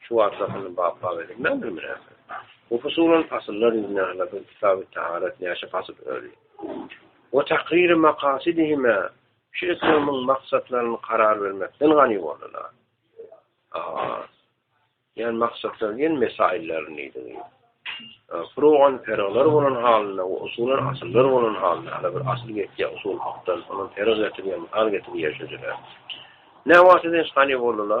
Şu wagt asyl bapbap edip näme bilersiň? Bu fusulan asyllar ýüzüne ala bir kitaby taharet näçe pasyl öli? We takriri makasidihime şu etrimiň maksatlaryny karar bermekden gani ýuwalala. Aha. Ýan maksatlar diýen mesaillerni diýdi. Furugan peraglar bolan halynda we usulan asyllar bolan halynda ala bir asyl ýetýä usul hakdan soňam perag getirýän, al getirýän şeýleler. Näwagtdan hiç gani bolala?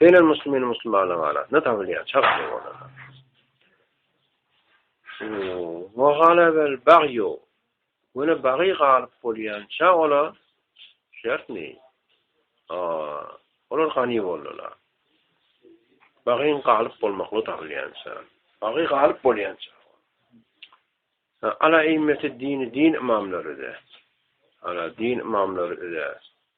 Beýle muslymyny musulmanlaryň arasynda tapylýar, çak ýok olarda. Mahala bel bag ýok. Göne bagy galyp bolýança ola şertmi? Aa, olar gani boldular. Bagyň galyp bolmakly tapylýança. Bagy galyp bolýança. Ala immeti dini din imamlary de. Ala din imamlary de.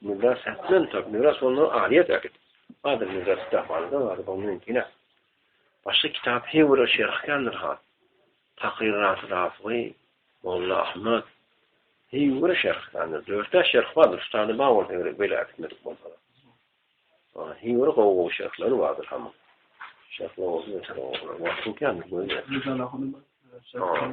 Mürda sählen tor, mürda sondan alyýet ägit. Adyr mürda kitap alda bar, bu mümkin ä. Başga kitap hewre şerh kändir ha. Takyr rahat rahatly, Molla Ahmet. Hewre şerh kändir, dörtä şerh bar, ustany bar ol hewre bile ägitmedik bolsa. Ha, hewre gowy gowy şerhleri bardyr ha. Şerh gowy, şerh gowy. Wagtyň kändir, goýber. Ha.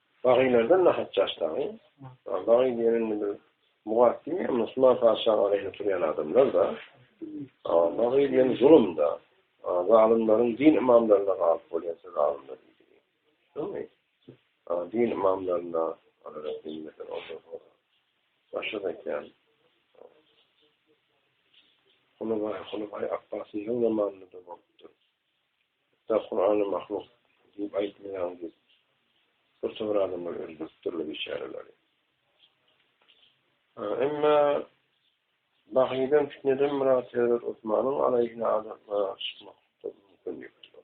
Baghylardan nahat ýaş dagy? Baghy diýen indi bir mugaddym ýa musulman patyşanyň aleýhine turýan adamlar-da. Baghy diýen zulum-da. Zalymlaryň din ymamlaryna galyp bolýan söz alymlar diýdi. Şumy? Din ymamlaryna Başga aýtýan. Hulubaý, Hulubaý Apbasyň ýyl zamanynda-da bolupdyr. Hatda Kurana mahluk diýip aýtmaýaň diýip birtopar adamlar öldürip durlar biçäreleri. Emma Bahydan fitneden Murat Hezret Osmanyň alaýhyna adamlar çykmak mümkin ýokdur.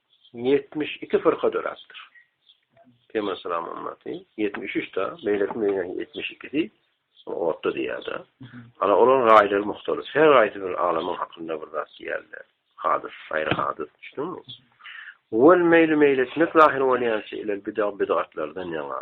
Ýetmiş iki fyrka döräpdir. Peygamber salam ümmaty ýetmiş üç ta, meýletin meýle ýetmiş ikisi otda diýýärdi. Ana olaryň raýlary muhtalyf. Her raýsy bir alamyň hakynda bir zat diýýärler. Hadys, aýry hadys düşdüňmi? Wal meýli meýletmek zahir bolýança ilel bidag bidatlardan ýaňa.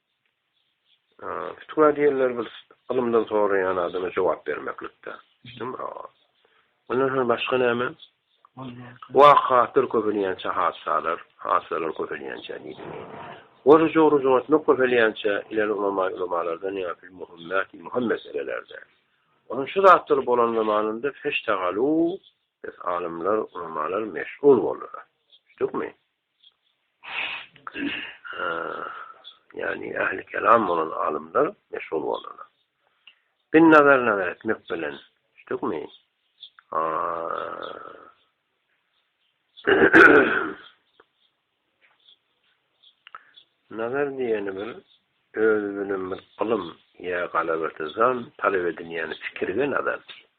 Fitwa diýenler bir ylymdan soraýan adama jogap bermeklikde. Ondan soň başga näme? Wakaatlar köpelýänçe hadysalar, hadysalar köpelýänçe diýdi. Oruç oruç tutmak köpelýänçe ileri ulama ulamalardan ýa fil muhimmat muhim meselelerde. Onuň şu zatlar bolan zamanynda feştagalu biz alymlar ulamalar meşgul boldular. Düşdükmi? ýagny ähli kelam bolan alymlar meşhur boldular. Bin nazar nazar etmek bilen, düşdükmi? Nazar diýeni bir öz bilen bir ylym ýa galaberdi zan talap edilýän fikirge nazar diýýär.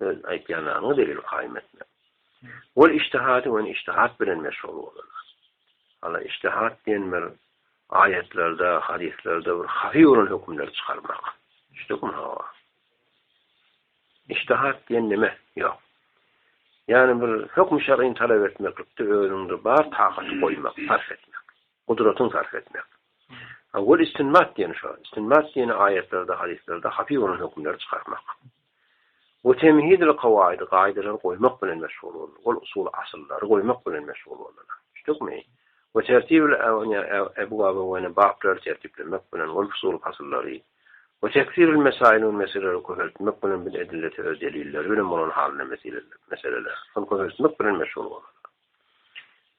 Öz aýtýan zadyňy delil kaýym etme. Ol iştihady wen iştihat bilen meşgul bolanlar. Hala iştihat diýen bir aýatlarda, hadyslarda bir haýy bolan hökümleri çykarmak. Düşdükmi hawa? İştihat diýen nime? Ýok. Ýani bir hökm şer'ini talap etmeklikde özüňde bar takaty goýmak, sarf etmek. Gudratyň sarp etmek. Wal istinbat diýeni şo. Istinbat diýeni aýatlerde, hadyslarda hapy bolan hökümleri çykarmak. We temhidil kawaid gaýdalary goýmak bilen meşgul boldy. Wal usul asyllary goýmak bilen meşgul boldylar. Düşdükmi? We tertibil ebwab we ne baplary tertiplemek bilen wal fusul fasyllary. We teksiril mesail we meseleleri köpeltmek bilen bil edilleti öz delilleri bilen bolan halynda meseleler. Meseleler. Şol köpeltmek bilen meşgul boldy.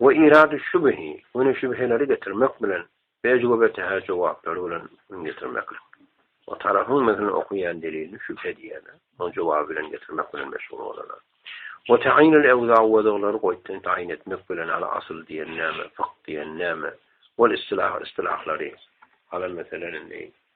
we irady şübhi, göni şübheleri getirmek bilen, ejgo we täze jogaplary bilen üň getirmeklik. O tarapyň mekni okaýan delilini şübhe diýerler, onuň jogaby bilen getirmek bilen meşgul bolarlar. We ta'ýinul ewza wezglary goýtdan ta'ýin etmek bilen ala asyl diýen näme, fykh diýen näme, ol istilah istilahlary, ala meseleni,